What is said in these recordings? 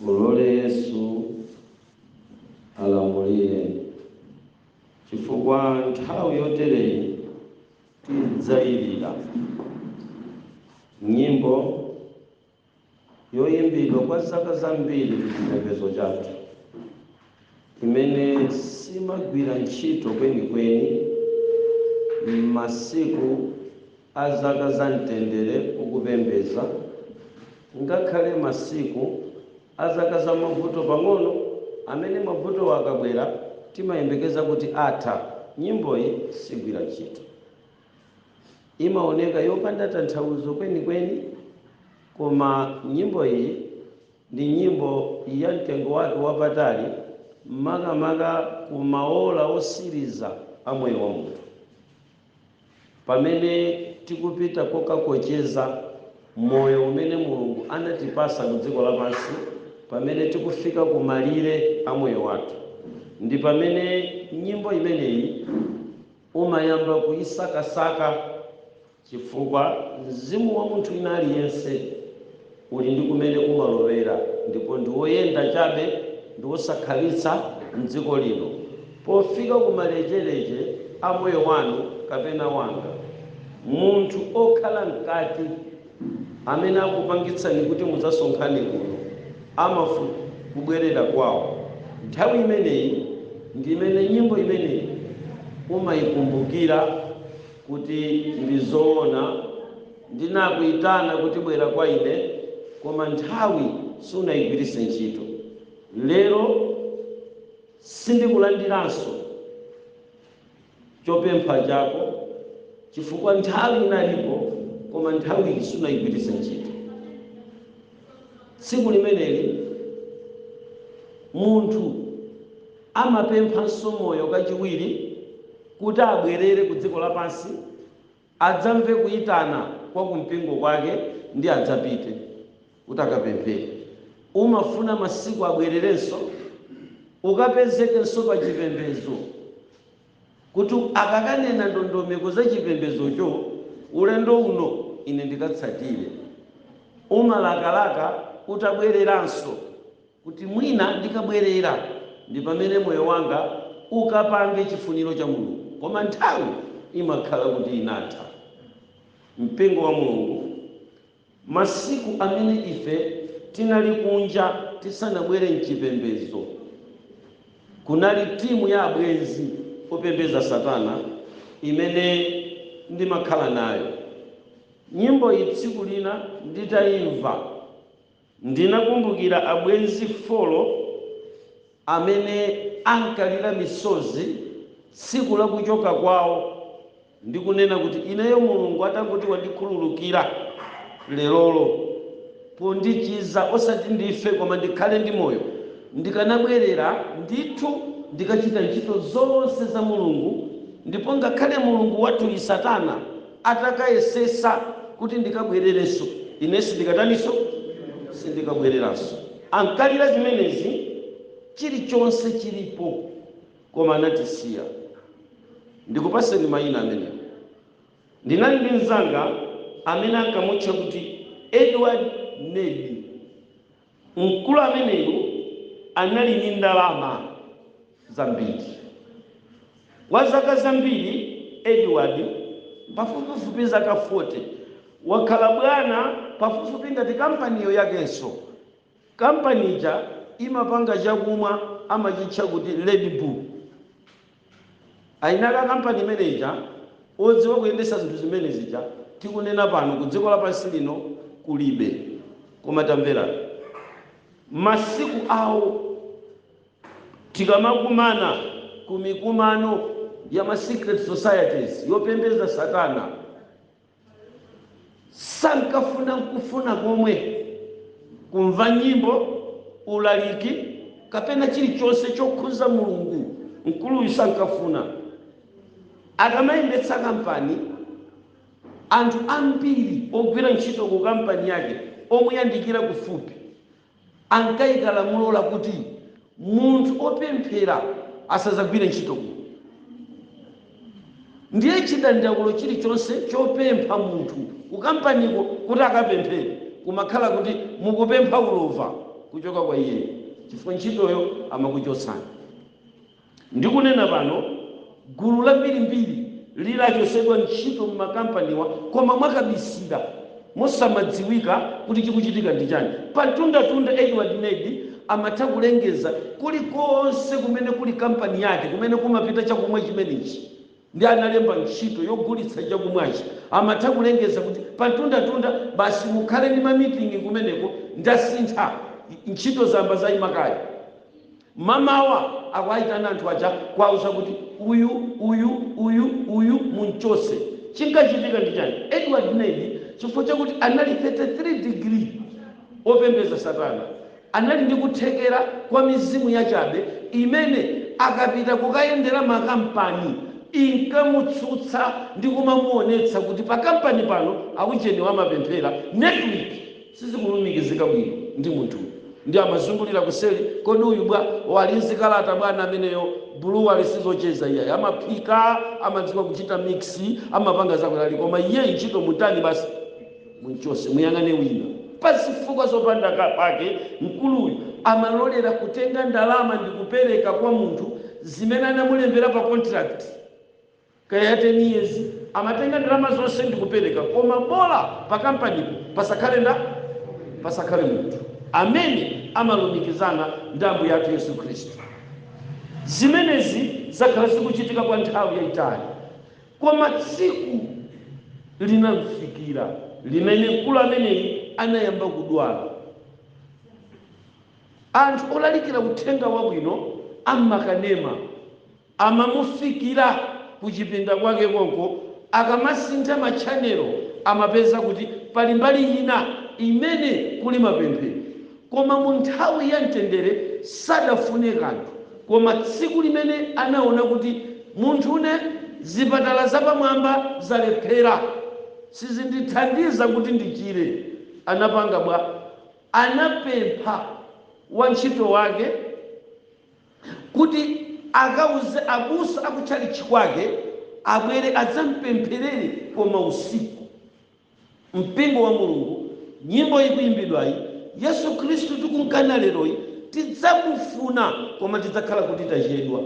mulole yesu alamulire chifukwa nthawi yotereyi udzayilira nyimbo yoimbidwa kwa zaka zambiri m'chipembedzo chathu, imene simagwira ntchito kwenikweni m'masiku a zaka za mtendere ukupembedza, ngakhale masiku a zaka za mavuto pang'ono, amene mavutowo akabwera timayembekeza kuti atha, nyimboyi sigwira ntchito. Imaoneka yopanda tanthauzo kwenikweni, koma nyimbo iyi ndi nyimbo ya mtengo wake wapatali, makamaka ku maora otsiriza a moyo wa munthu, pamene tikupita kokakocheza moyo umene Mulungu anatipatsa ku dziko lapansi, pamene tikufika ku malire a moyo wathu. Ndi pamene nyimbo imeneyi. umayamba kuyisakasaka chifukwa mzimu wa munthu wina aliyense uli ndi kumene umalowera ndipo ndi woyenda chabe ndi wosakhalitsa m'dziko lino. Pofika ku malecheleche a moyo wanu kapena wanga, munthu okhala mkati. amene akupangitsani kuti mudzasonkhane kuno amafuna kubwerera kwawo nthawi imeneyi ndi imene nyimbo imeneyi umayikumbukira kuti ndi zoona ndinakuyitana kuti bwera kwa ine koma nthawi sunayigwiritse ntchito lero sindikulandiranso chopempha chako chifukwa nthawi inalipo koma nthawiyi sunayigwiritse ntchito. Tsiku limeneli munthu amapemphanso moyo kachiwiri kuti abwerere ku dziko lapansi adzamve kuitana kwa kumpingo kwake ndipo adzapite kuti akapemphere. Umafuna masiku abwererenso ukapezekenso pa chipembedzo kuti akakanena ndondomeko za chipembedzocho ulendo uno ine ndikatsatire. Umalakalaka utabwereranso kuti mwina ndikabwerera ndi pamene moyo wanga ukapange chifuniro cha Mulungu. Koma nthawi imakhala kuti inatha. Mpingo wa Mulungu, masiku amene ife tinali kunja tisanabwere m'chipembedzo, kunali timu ya abwenzi opembedza Satana imene ndimakhala nayo. Nyimboyi tsiku lina nditaimva. Ndinakumbukira abwenzi 4 amene ankalira misozi tsiku la kuchoka kwawo ndi kunena kuti, Ineyo Mulungu atangoti wandikhululukira lerolo pondichiza osati ndife koma ndikhale ndi moyo, ndikanabwerera ndithu ndikachita ntchito zonse za Mulungu ndipo ngakhale mulungu wathuyi Satana. Atakayesetsa kuti ndikabwererenso, ine sindikataninso? Sindikabwereranso. Ankalira zimenezi chilichonse chilipo koma anatisiya. Ndikupatseni mayina amene ndinali ndi mnzanga amene ankamutcha kuti Edward Ned. Mkulu ameneyu anali ndi ndalama zambiri. Kwa zaka zambiri, Edward, pafupifupi zaka 40, wakhala bwana pafupifupi ngati kampaniyo yakenso. Kampani ija imapanga chakumwa amachitcha kuti Red Bull. Anali a kampani imene ija, odziwa kuyendesa zinthu zimene zija, tikunena pano kudziko lapansi lino kulibe. Koma tamverani, masiku awo tikamakumana ku mikumano ya ma secret societies yopembedza satana, Sankafuna n'kufuna komwe kumva nyimbo, ulaliki kapena chilichonse chokhudza Mulungu. Mkuluyu sankafuna. Akamayendetsa kampani, anthu ambiri ogwira ntchito kukampani yake omuyandikira kufupi ankaika lamulo lakuti munthu opemphera asadzagwire ntchito kuno ndiye chidandaulo chilichonse chopempha munthu kukampaniko kuti akapemphere kumakhala kuti mukupempha ulova kuchoka kwa iyeyo chifukwa ntchitoyo amakuchotsani Ndikunena pano, gulu lambirimbiri li lachotsedwa ntchito m'makampaniwa koma mwakabisira, mosamadziwika kuti chikuchitika ndi chani. Pa mtundatunda, Edward Nedi amatha kulengeza kulikonse kumene kuli kampani yake kumene kumapita chakumwa chimenechi ndi analemba ntchito yogulitsa chakumwachi. Amatha kulengeza kuti pa mtundatunda basi mukhale ndi ma meeting kumeneko ndasintha, ntchito zambiri zaima kale. Mmamawa akuwaitana anthu aja kuwauza kuti uyu, uyu, uyu, uyu mumchotse. Chinkachitika ndi chani? Edward Nedi chifukwa chakuti anali 33 degree opembeza satana anali ndi kuthekera kwa mizimu yachabe imene akapita kukayendera ma kampani inkamutsutsa ndi kumamuonetsa kuti pa kampani pano aujeniwa amapemphera. Network sizikulumikizika bwino ndi munthuyu ndiye amazungulira kuseli kodi uyu bwa? o ali ndi zikalata bwana ameneyo blue alinayo sizocheza iyayi amaphika amadziwa kuchita mix amapanga zakuti ali koma iyeyi ntchito mutani basi mumchotse muyang'ane wina pazifukwa zopanda pake mkuluyu amalolera kutenga ndalama ndikupereka kwa munthu zimene anamulembera pa contract. kaya 10 years amatenga ndalama zonse ndikupeleka koma bola pa kampanipo pasakhale nda pasakhale munthu amene amalumikizana ndi ambuye athu yesu khristu zimenezi zakhala zikuchitika kwa nthawi yayitali koma tsiku linamfikira limene mkulu ameneyi anayamba kudwala anthu olalikira uthenga wabwino ammakanema Amamufikira kuchipinda kwake konko, akamasintha ma channel amapeza kuti pali mbali ina imene kuli mapemphero koma mu nthawi ya mtendere sadafune kanthu koma tsiku limene anaona kuti munthune zipatala zapamwamba zalephera sizindithandiza kuti ndichire anapanga bwa? Anapempha wantchito wake. kuti akauze abusa aku tchalitchi kwake abwere adzamupempherere koma usiku. Mpingo wa Mulungu, nyimbo ikuyimbidwayi, Yesu Khristu tikumkana leroyi, tidzamufuna koma tidzakhala kuti tachedwa.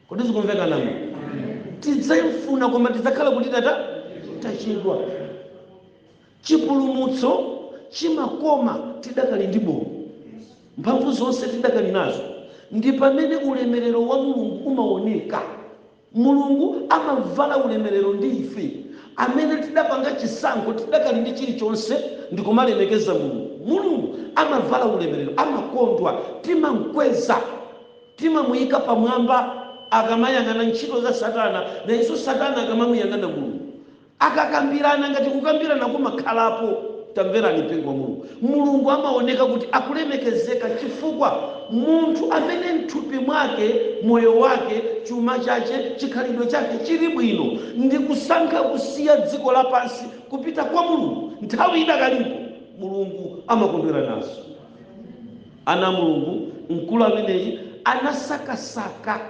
Kodi zikumveka nanga? Tidzamufuna koma tidzakhala kuti tatani tachedwa. Chipulumutso chimakoma tidakali ndi moyo, mphamvu zonse tidakali nazo, ndi pamene ulemerero wa Mulungu umaoneka. Mulungu amavala ulemerero ndi ife amene tidapanga chisankho tidakali ndi chilichonse ndikumalemekeza Mulungu. Mulungu amavala ulemerero, amakondwa, timamkweza, timamuyika pamwamba akamayang'ana ntchito za satana nayenso satana akamamuyang'ana Mulungu. Akakambirana, ngati kukambirana kumakhalapo, tamverani mpingo wa Mulungu, Mulungu amaoneka kuti akulemekezeka cifukwa munthu amene mthupi mwake moyo wake, cuma cace, cikhalidwe cake ciri bwino ndi kusankha kusiya dziko lapansi kupita kwa Mulungu nthawi idakalipo, Mulungu amakondwera nazo. Ana a Mulungu, mkulu ameneyi anasakasaka.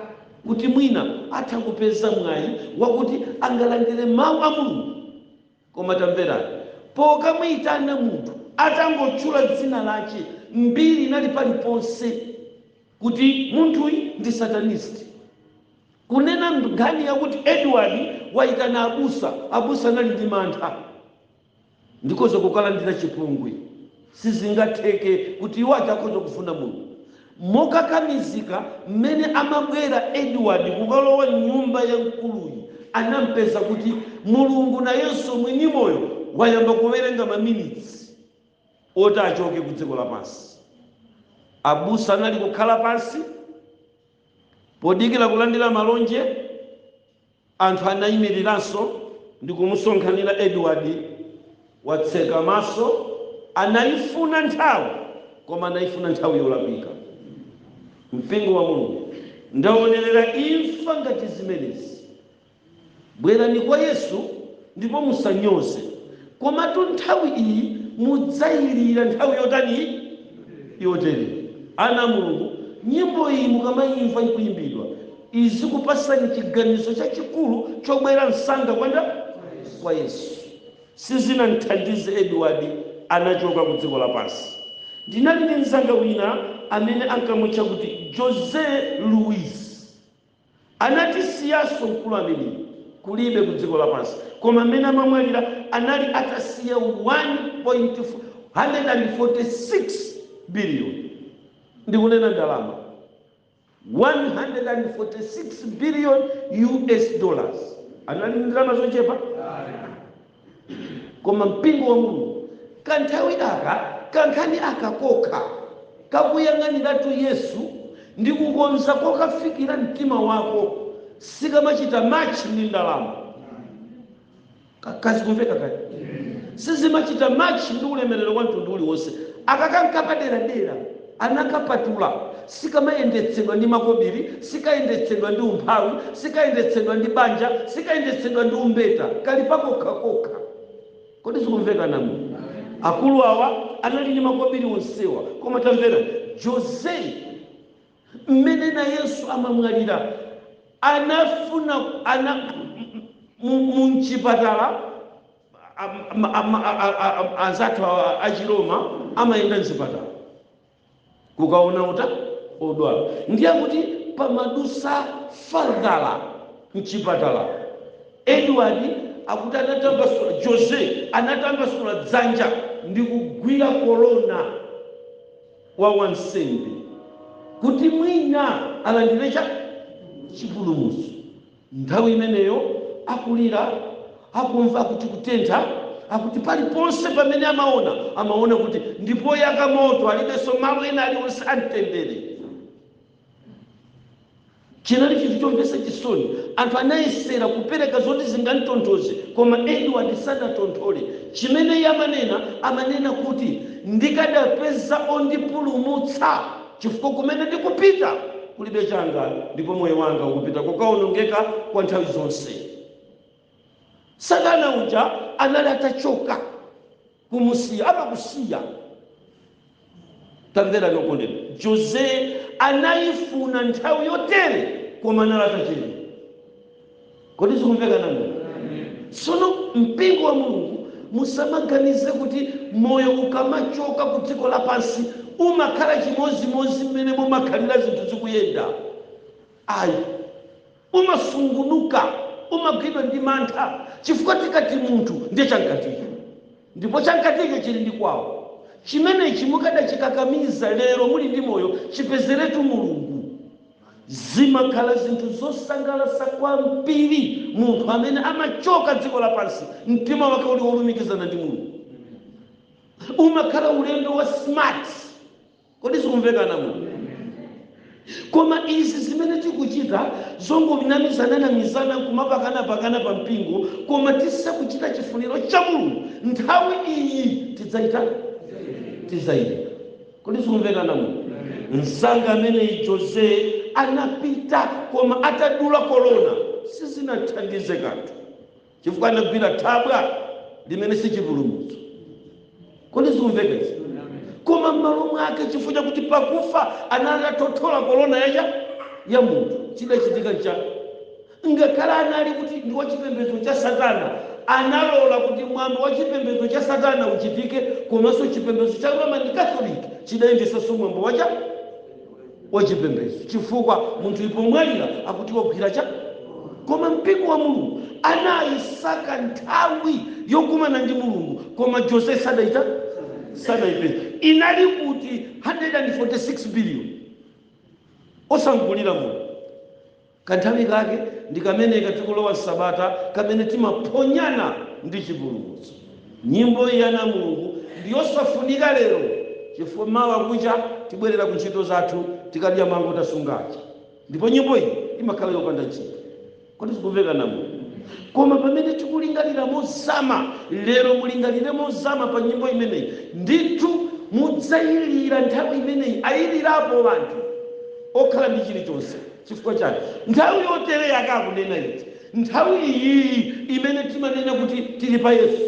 kuti mwina atha kupeza mwayi wakuti angalandire Mau a Mulungu. Koma tamverani, pokamuitana munthu atangotchula dzina lache, mbiri inali paliponse kuti munthuyi ndi satanist. Kunena nkhani yakuti Edward waitana abusa, abusa anali ndi mantha. Ndikhoza kukalandira chipongwe. Sizingatheke kuti iwo aja akhoza kufuna Mulungu. Mokakamizika mmene amabwera Edward kukalowa m'nyumba ya mkuluyi anampeza kuti Mulungu nayenso mwini moyo wayamba kuwerenga maminitsi oti achoke ku dziko lapansi. Abusa anali kukhala pansi podikira kulandira malonje. Anthu anaimiriranso ndi kumusonkhanira Edward, watseka maso, anaifuna nthawi, koma anaifuna nthawi yolakwika. Mpingo wa Mulungu, ndaonerera imfa ngati zimenezi. Bwerani kwa Yesu. ndipo musanyoze. Komatu nthawi iyi mudzailira. Nthawi yotani? Yotereyi. Ana a Mulungu, nyimbo iyi mukamaimva ikuimbidwa, izikupasani chiganizo chachikulu chobwera msanga kwa nda? Kwa Yesu. Sizinamthandize Edward, anachoka ku dziko lapansi. Ndinali ndi mzanga wina amene ankamutcha kuti José Luis. Anatisiyanso mkulu ameneyi kulibe ku dziko lapansi koma mmene amamwalira anali atasiya 146 billion ndikunena ndalama 146 billion US dollars anali ndi ndalama zochepa? koma mpingo wa mulungu kanthawi aka kankhani aka kokha kakuyang'aniratu yesu ndi kukonza kokafikira mtima wako sikamachita machi ndi ndalama kodi zikumveka kodi sizimachita machi ndi ulemerero wa mtundu uliwonse aka nkapaderadera anakapatula, sikamayendetsedwa ndi makobiri, sikayendetsedwa ndi umphawi, sikayendetsedwa ndi banja, sikayendetsedwa ndi umbeta, kali pakokha kokha. Kodi zikumveka, anamu? Akulu awa anali ndi makobiri onsewa, koma tamverani, Jose, mmene nayenso amamwalira, anafuna, ana, mu, mchipatala, Anzathu awa achiroma amayenda mzipatala kukaona ota odwala ndiye akuti pamadutsa fadala mchipatala Edward akuti anatambasula Jose anatambasula dzanja ndikugwira kolona wa wansembe kuti mwina alandire chani chipulumutso. Nthawi imeneyo akulira, akumva akuti kutentha, akuti paliponse pamene amaona, amaona kuti ndi poyaka moto, alibenso malo ena alionse a mtendere. Chinali chinthu chomvetsa chisoni. Anthu anayesera kupereka zoti zingamtonthoze, koma Edward sanatonthole. Chimene iye amanena, amanena kuti, Ndikadapeza ondipulumutsa! Chifukwa kumene ndikupita kulibe changa, ndipo moyo wanga ukupita kokawonongeka kwa nthawi zonse. Satana uja anali atachoka, kumusiya, amakusiya. Tamverani okondedwa, Jose anayifuna nthawi yotere koma anali atachedwa. kodi zikumveka anamu sono mpingo wa mulungu musamaganize kuti moyo ukamachoka ku dziko lapansi umakhala chimozimozi mmene mumakhalira zinthu zikuyenda ayi umasungunuka umagwidwa ndi mantha chifukwa tikati munthu ndiye chamkaticho ndipo chamkaticho chili ndi kwawo chimenechi mukadachikakamiza lero muli ndi moyo chipezeretu mulungu Zimakhala zinthu zosangalatsa kwambiri munthu amene amachoka dziko lapansi mtima wake uli wolumikizana ndi Mulungu. Umakhala ulendo wa smart. Kodi zikumveka anamu? Koma izi zimene tikuchita zongonamizananamizana nkumapakanapakana pa mpingo koma tisakuchita chifuniro cha Mulungu, nthawi iyi tidzaita? Tidzaita. Kodi zikumveka ana a Mulungu? Mzanga ameneyi Jose anapita koma atadula kolona sizinathandize kanthu chifukwa anagwira thabwa limene si chipulumutso. Kodi zikumveka izi? Koma m'malo mwake chifukwa chakuti pakufa anali atathothola kolona ija ya munthu chidachitika nchani? Ngakhale anali kuti ndi wachipembedzo cha Satana, analola kuti mwambo wachipembedzo cha Satana uchitike komanso chipembedzo cha Roman Catholic chidayendetsanso mwambo wachipembedzo chifukwa munthuyu pomwalira akuti wagwira chani koma mpingo wa Mulungu anayisaka nthawi yokumana ndi Mulungu koma Jose sadaita sadaipeza inali kuti 146 billion osamgulira Mulungu Kanthawi kake ndi kameneka tikulowa m'sabata kamene timaphonyana ndi chipulumutso. Nyimbo iyi, ana a Mulungu, ndi yosafunika lero chifukwa mawa kucha tibwerera ku ntchito zathu tikadya mango tasunga aja ndipo nyimbo iyi imakhala yopanda ntchito. Kodi zikumveka, ana a Mulungu? Koma pamene tikulingalira mozama lero, mulingalire mozama pa nyimbo imeneyi, ndithu mudzailira nthawi imeneyi ailirapo anthu okhala ndi chilichonse. Chifukwa chani? Nthawi yotere yake akunena iti? Nthawi iyiyi imene timanena kuti tili pa Yesu,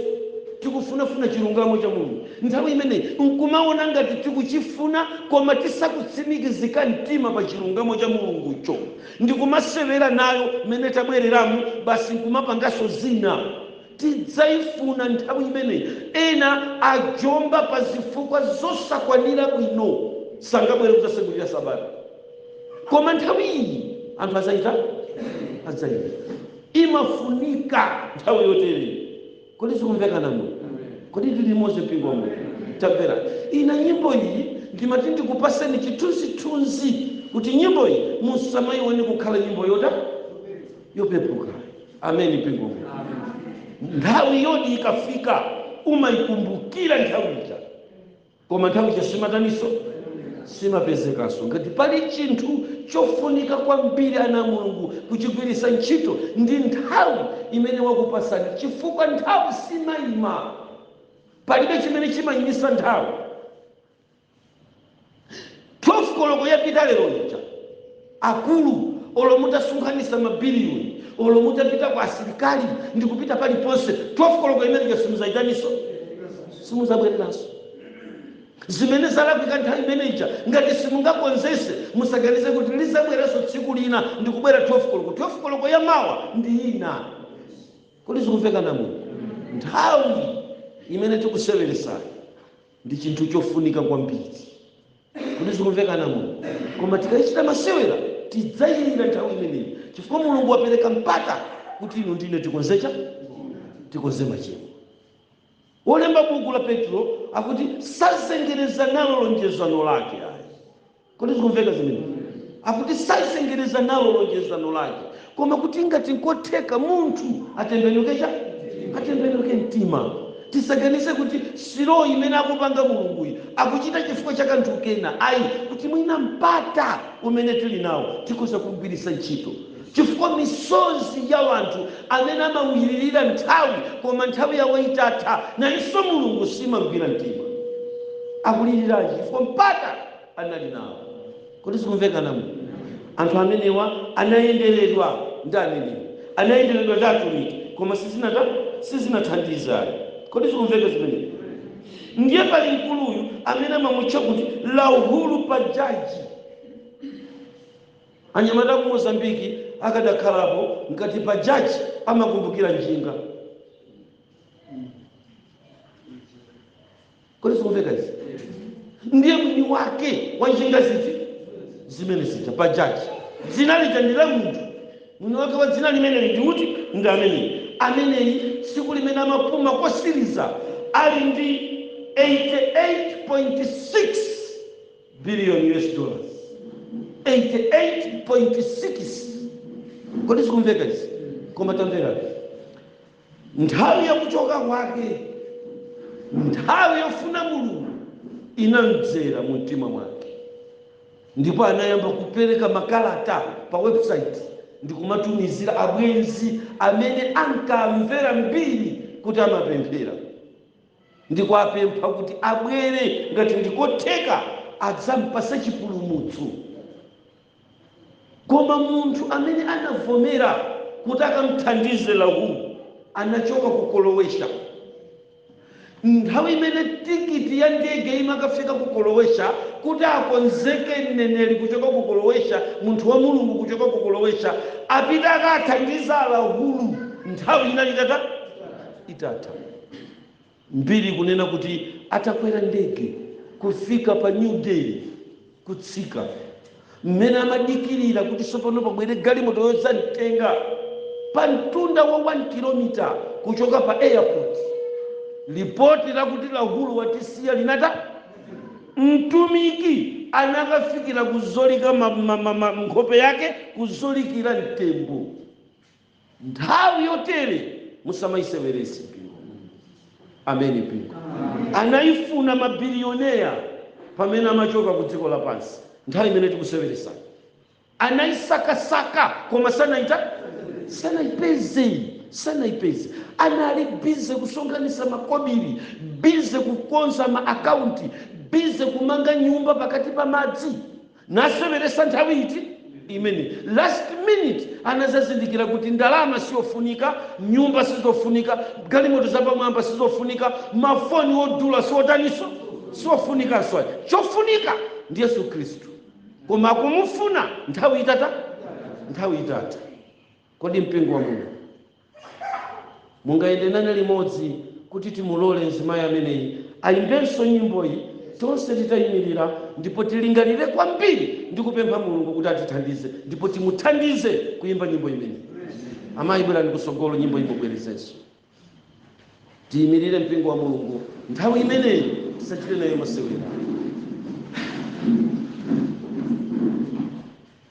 tikufunafuna chilungamo cha Mulungu, nthawi imeneyi nkumaona ngati tikuchifuna koma tisakutsimikizika mtima pa chilungamo cha Mulungucho ndikumasewera nayo mmene tabwereramu basi nkumapanganso zina, tidzaifuna nthawi imeneyi. Ena ajomba pa zifukwa zosakwanira bwino, sangabwere kudzasegulira sabata. koma nthawi iyi anthu adzaita adzaita imafunika nthawi yotere kodi zikumveka ana a mulungu kodi tili limodzi mpingo wa mulungu tamvera ina nyimbo iyi ndimati ndikupaseni chithunzithunzi kuti nyimbo iyi musamayione kukhala nyimbo yota yopepuka ameni mpingo wa mulungu nthawi yoti ikafika umaikumbukira nthawi ija Koma nthawi ija simataninso? Simapezekanso. Ngati pali chinthu chofunika kwambiri ana a Mulungu kuchigwiritsa ntchito ndi nthawi imene wakupatsani chifukwa nthawi simayima. Palibe chimene chimayimisa nthawi. 12 koloko yapita lero lija akulu olo mutasonkhanisa ma billion olo mutapita kwa asilikali ndikupita paliponse 12 koloko imene ija simuzaitaninso simuzabwereranso zimene zalakwika nthawi imene ija ngati simungakonzese musaganize kuti lizabweranso tsiku lina ndikubwera 12 koloko 12 koloko ya mawa ndi ina kodi zikumveka ana a mulungu nthawi imene tikuseweresayo ndi chinthu chofunika kwambiri. Kodi zikumveka amuno? Koma tikachita masewera tidzayilira nthawi imeneyi, chifukwa Mulungu wapereka mpata kuti inu ndi ine tikonze cha? Tikonze machimo. Wolemba buku la Petro akuti sazengereza nalo lonjezano lake ayi. Kodi zikumveka zimenezo? Akuti sazengereza nalo lonjezano lake, koma kuti ngati nkotheka munthu atembenuke cha? Atembenuke mtima. Tisaganize kuti slow imene akupanga Mulunguyi akuchita chifukwa cha kanthu kena ayi, kuti mwina mpata umene tili nawo tikhoza kuugwiritsa ntchito. Chifukwa misozi ya anthu amene amamulirira nthawi koma nthawi yawo itatha, nayonso Mulungu simamgwira mtima. Akuliriranji? Chifukwa mpata. anali nawo. Kodi zikumveka amuno? Anthu amenewa anayenderedwa ndi aneneri, anayenderedwa ndi atumiki, koma sizinata, sizinathandize ayi. Kodi zikumveka zimenezi? Ndiye pali mkuluyu amene amamutcha kuti Rahul Bajaj. Anyamata a ku Mozambique akadakhalapo ngati Bajaj amakumbukira njinga. kodi zikumveka izi ndiye mwini wake wa njinga ziti zimene zija Bajaj dzina lija ndi la munthu mwini wake wa dzina limeneli ndi uti ndi ameneyi ameneyi tsiku limene amapuma kotsiriza ali ndi 88.6 billion US dollars 88.6 kodi zikumveka izi koma tamvekani Nthawi ya kuchoka kwake, nthawi yofuna Mulungu inamdzera mu mtima mwake, ndipo anayamba kupereka makalata pa website ndi kumatumizira abwenzi amene ankawamvera mbiri kuti amapemphera ndi kuwapempha kuti abwere ngati ndikotheka adzampatse chipulumutso. Koma munthu amene anavomera kuti akam'thandize Rahul anachoka ku Croatia. Nthawi imene tikiti ya ndege imakafika ku Croatia kuti akonzeke mneneri kuchoka ku Croatia, munthu wa Mulungu kuchoka ku Croatia, apite akathandize Rahul, nthawi inali itatani? Itatha. Mbiri ikunena kuti atakwera ndege kufika pa New Delhi, kutsika mmene amadikirira kuti tsopano pabwere galimoto yodzamtenga, pa mtunda wa 1 kilomita kuchoka pa airport, lipoti lakuti Rahul watisiya linatani. Mtumiki anakafikira kuzolika ma, ma, ma, ma, nkhope yake kuzolikira mtembo. Nthawi yotere musamaiseweretse mpingo. Amen mpingo. Anaifuna ma billionaire pamene amachoka ku dziko lapansi. Nthawi imene tikuseweretsayi. Anaisakasaka koma sanaita sanaipeze sanaipeze. Anali busy kusonkhanitsa makobiri, busy kukonza ma account, busy kumanga nyumba pakati pa madzi. naseweresa nthawi iti imeneyi last minute anadzazindikira kuti ndalama siyofunika nyumba sizofunika galimoto zapamwamba sizofunika mafoni odula siotaniso siofunikanso ayi chofunika ndi yesu khristu koma akumufuna nthawi itatha nthawi itatha kodi mpingo wa mulungu Mungayende nane limodzi kuti timulole mzimayi ameneyi ayimbenso nyimboyi, tonse titayimirira, ndipo tilingalire kwambiri ndi kupempha Mulungu kuti atithandize, ndipo timuthandize kuyimba nyimbo imeneyi. Amayi, bwerani kutsogolo, nyimboyi mubwerezenso. Tiyimirire, mpingo wa Mulungu, nthawi imeneyi tisachite nayo masewera.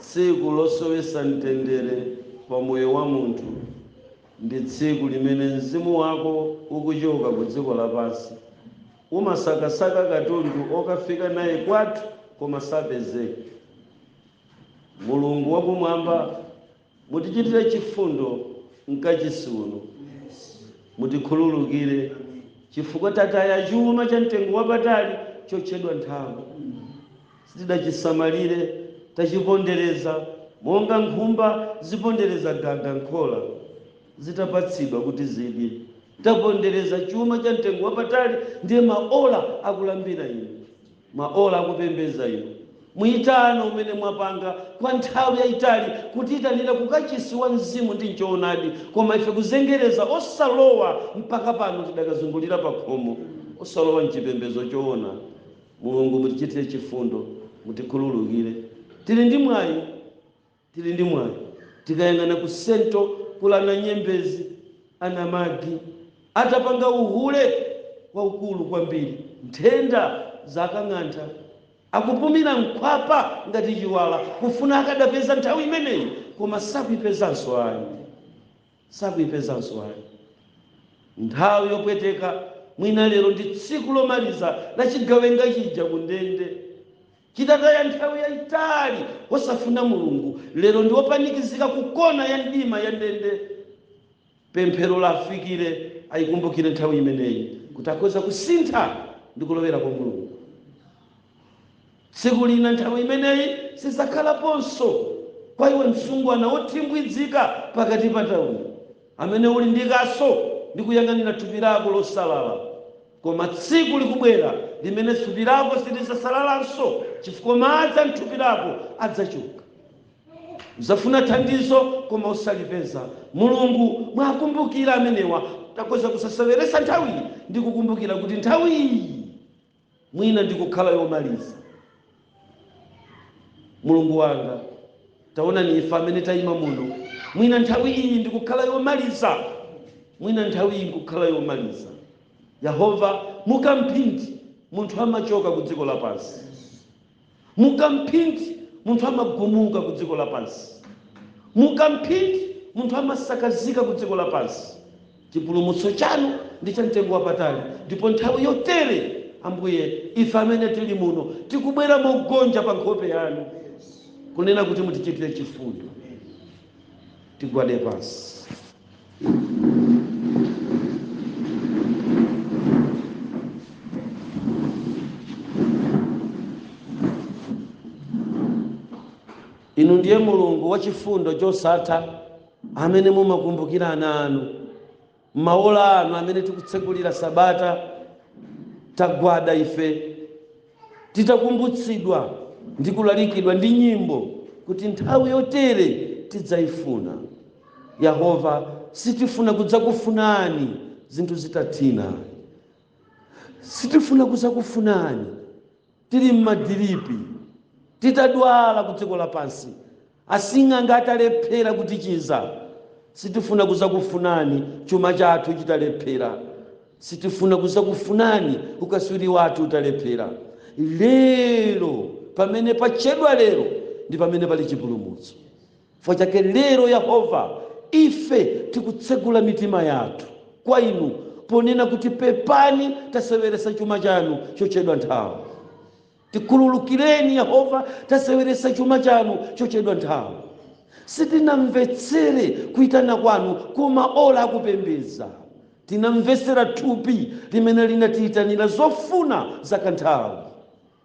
tsiku losowesa mtendere pa moyo wa munthu ndi tsiku limene mzimu wako ukuchoka ku dziko lapansi umasakasaka katundu okafika naye kwathu koma sapezeka Mulungu wa Kumwamba, mutichitire chifundo m'kachisi uno. Mutikhululukire chifukwa tataya chuma cha mtengo wapatali chotchedwa nthawi. Sitidachisamalire, tachipondereza monga nkhumba zipondereza gaga m'khola zitapatsidwa kuti zidye. Tapondereza chuma cha mtengo wapatali, ndiye maola akulambira Inu. Maola akupembedza inu, muitano umene mwapanga kwa nthawi yaitali kutiitanira ku kachisi wa Mzimu ndi m'choonadi, koma ife kuzengereza osalowa mpaka pano tidakazungulira pa khomo, osalowa m'chipembedzo choona. Mulungu mutichitire chifundo, mutikhululukire. Tili ndi mwayi Tili ndi mwayi tikayang'ana ku central kuli anaNyembezi anaMagi atapanga uhule waukulu kwambiri nthenda zawakang'antha akupumira mkhwapa ngati chiwala kufuna akadapeza nthawi imeneyi koma sakuipezanso ayi sakuipezanso ayi nthawi yopweteka mwina lero ndi tsiku lomaliza la chigawenga chija ku ndende. Chitataya nthawi yaitali osafuna Mulungu, lero ndi opanikizika ku kona ya mdima ya ndende, pemphero liwafikire ayikumbukire nthawi imeneyi kuti akhoza kusintha ndi kulowera kwa Mulungu. Tsiku lina nthawi imeneyi sizakhalaponso. Kwa iwe msungwana wothimbwidzika pakati pa tauni, amene uli ndi kaso ndi kuyang'anira thupi lako losalala, Koma tsiku likubwera limene thupi lako silidzasalalanso, chifukwa madzi a m'thupi lako adzachoka. Udzafuna thandizo koma osalipeza. Mulungu muwakumbukire amenewa akhoza kusaseweretsa nthawiyi ndi kukumbukira kuti nthawiyi mwina ndikukhala yomaliza. Mulungu wanga, taonani ife amene tayima muno, mwina nthawi iyi ndikukhala yomaliza, mwina nthawi iyi ndikukhala yomaliza. Yehova, mu kamphindi munthu amachoka ku dziko lapansi, mu kamphindi munthu amagumuka ku dziko lapansi, mu kamphindi munthu amasakazika ku dziko lapansi. Chipulumutso chanu ndi cha mtengo wapatali, ndipo nthawi yotere, Ambuye, ife amene tiri muno tikubwera mogonja pa nkhope Yanu, kunena kuti mutichitire chifundo. Tigwade pansi. Inu ndiye Mulungu wachifundo chosatha amene mumakumbukira ana anu. M'maola ano amene tikutsegulira Sabata, tagwada ife titakumbutsidwa ndi kulalikidwa ndi nyimbo kuti nthawi yotere tidzaifuna. Yehova, sitifuna kudzakufunani zinthu zitathina. Sitifuna kudzakufunani. tili m'madiripi, titadwala kudziko lapansi, asing'anga atalephera kutichiza, sitifuna kuzakufunani chuma chathu chitalephera, sitifuna kuzakufunani ukaswiri wathu utalephera. Lero, pamene patchedwa lero, ndi pamene pali chipulumutso. Potero chake lero, Yehova, ife tikutsegula mitima yathu kwa Inu, ponena kuti, Pepani, taseweretsa chuma chanu chotchedwa nthawi. Tikhululukireni, Yehova, taseweretsa chuma chanu chotchedwa nthawi. Sitinamvetsere kuitana kwanu ku maola a kupembedza. Tinamvetsera thupi limene linatiitanira zofuna za kanthawi.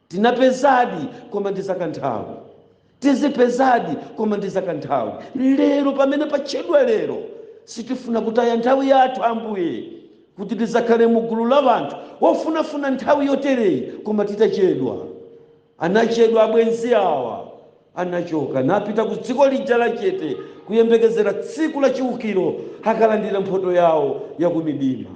Tinapezadi, koma ndi zakanthawi. Tizipezadi, koma ndi zakanthawi. Lero, pamene patchedwa lero, sitifuna kutaya nthawi yathu, Ambuye, kuti tidzakhale mu gulu la anthu ofunafuna nthawi yotereyi koma titachedwa. Anachedwa abwenzi awa. Anachoka napita ku dziko lija la chete, kuyembekezera tsiku la chiukiro, akalandira mphoto yawo ya kumidima.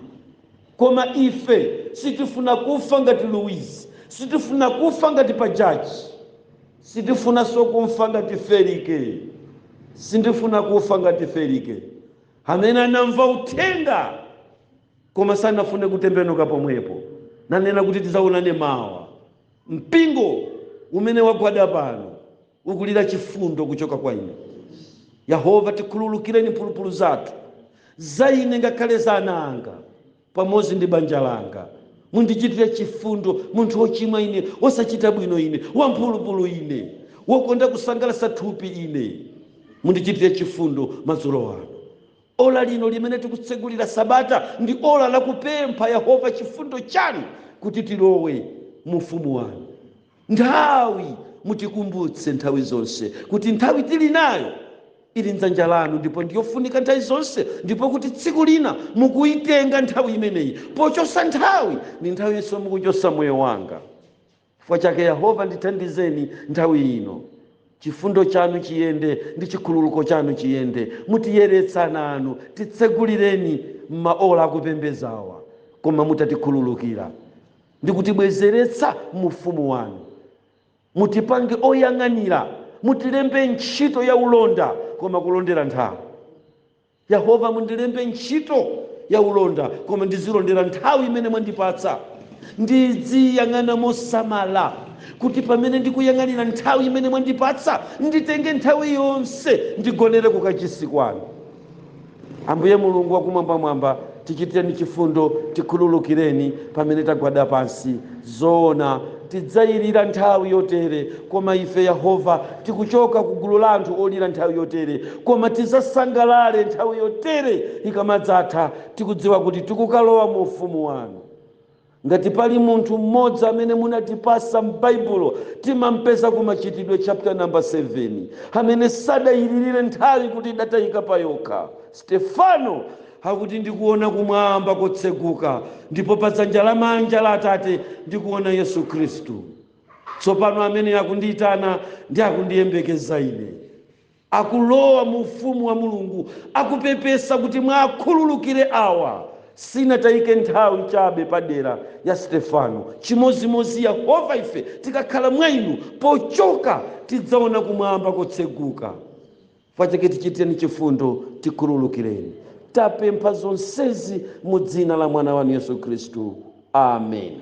Koma ife sitifuna kufa ngati Luizi, sitifuna kufa ngati Pajaji, sitifunanso kufa ngati Felike, sindifuna kufa ngati Felike, amene anamva uthenga koma sanafune kutembenuka pomwepo, nanena kuti tidzaonane mawa. Mpingo umene wagwada pano ukulira chifundo kuchoka kwa inu. Yehova, tikhululukireni mphulupulu zathu, za ine ngakhale za ana anga, pamodzi ndi banja langa. Mundichitire chifundo, munthu wochimwa ine, wosachita bwino ine, wamphulupulu ine, wokonda kusangalatsa thupi ine. Mundichitire chifundo madzulo ano. Ola lino limene tikutsegulira sabata ndi ola lakupempha Yehova chifundo chanu kuti tilowe mu Ufumu wanu. nthawi. Mutikumbutse nthawi zonse kuti nthawi tili nayo ili m'dzanja lanu ndipo ndi yofunika nthawi zonse, ndipo kuti tsiku lina mukuitenga nthawi imeneyi. Pochotsa nthawi, ndi nthawinso mukuchotsa moyo wanga. Chifukwa chake Yehova, ndithandizeni nthawi ino. Chifundo chanu chiyende ndi chikhululuko chanu chiyende. Mutiyeretse ana anu. Titsegulireni m'maola akupembedzawa. Koma mutatikhululukira. ndi kutibwezeretsa mu ufumu wanu. Mutipange oyang'anira, mutilembe ntchito ya ulonda koma kulondera nthawi. Yehova, mundilembe ntchito ya ulonda koma ndizilondera nthawi imene mwandipatsa. Ndidziyang'ana mosamala kuti pamene ndikuyang'anira nthawi imene mwandipatsa, nditenge nthawi yonse ndigonere kukachisi kwanu. ambuye mulungu wakumwambamwamba tichitireni chifundo tikhululukireni pamene tagwada pansi zoona tidzayirira nthawi yotere koma ife yehova tikuchoka ku gulu la anthu olira nthawi yotere koma tidzasangalale nthawi yotere ikamadzatha tikudziwa kuti tikukalowa mu ufumu wanu Ngati pali munthu mmodzi amene munatipatsa m'Baibulo, timampeza ku Machitidwe chapter number 7, amene sadayililire nthawi kuti idatayika payokha. Stefano akuti ndikuona kumwamba kotseguka ndipo pa dzanja lamanja la Atate ndikuona Yesu Khristu. Tsopano amene akundiitana ndi akundiyembekeza ine. akulowa mu Ufumu wa Mulungu, akupepesa kuti muwakhululukire awa. Sinatayike nthawi chabe pa dera la Stefano. Chimodzimodzi Yehova ife tikakhala mwa inu, pochoka tidzaona kumwamba kotseguka. Chifukwa chake tichitireni chifundo, tikhululukireni. Tapempha zonsezi mu dzina la Mwana wanu Yesu Khristu. Amen.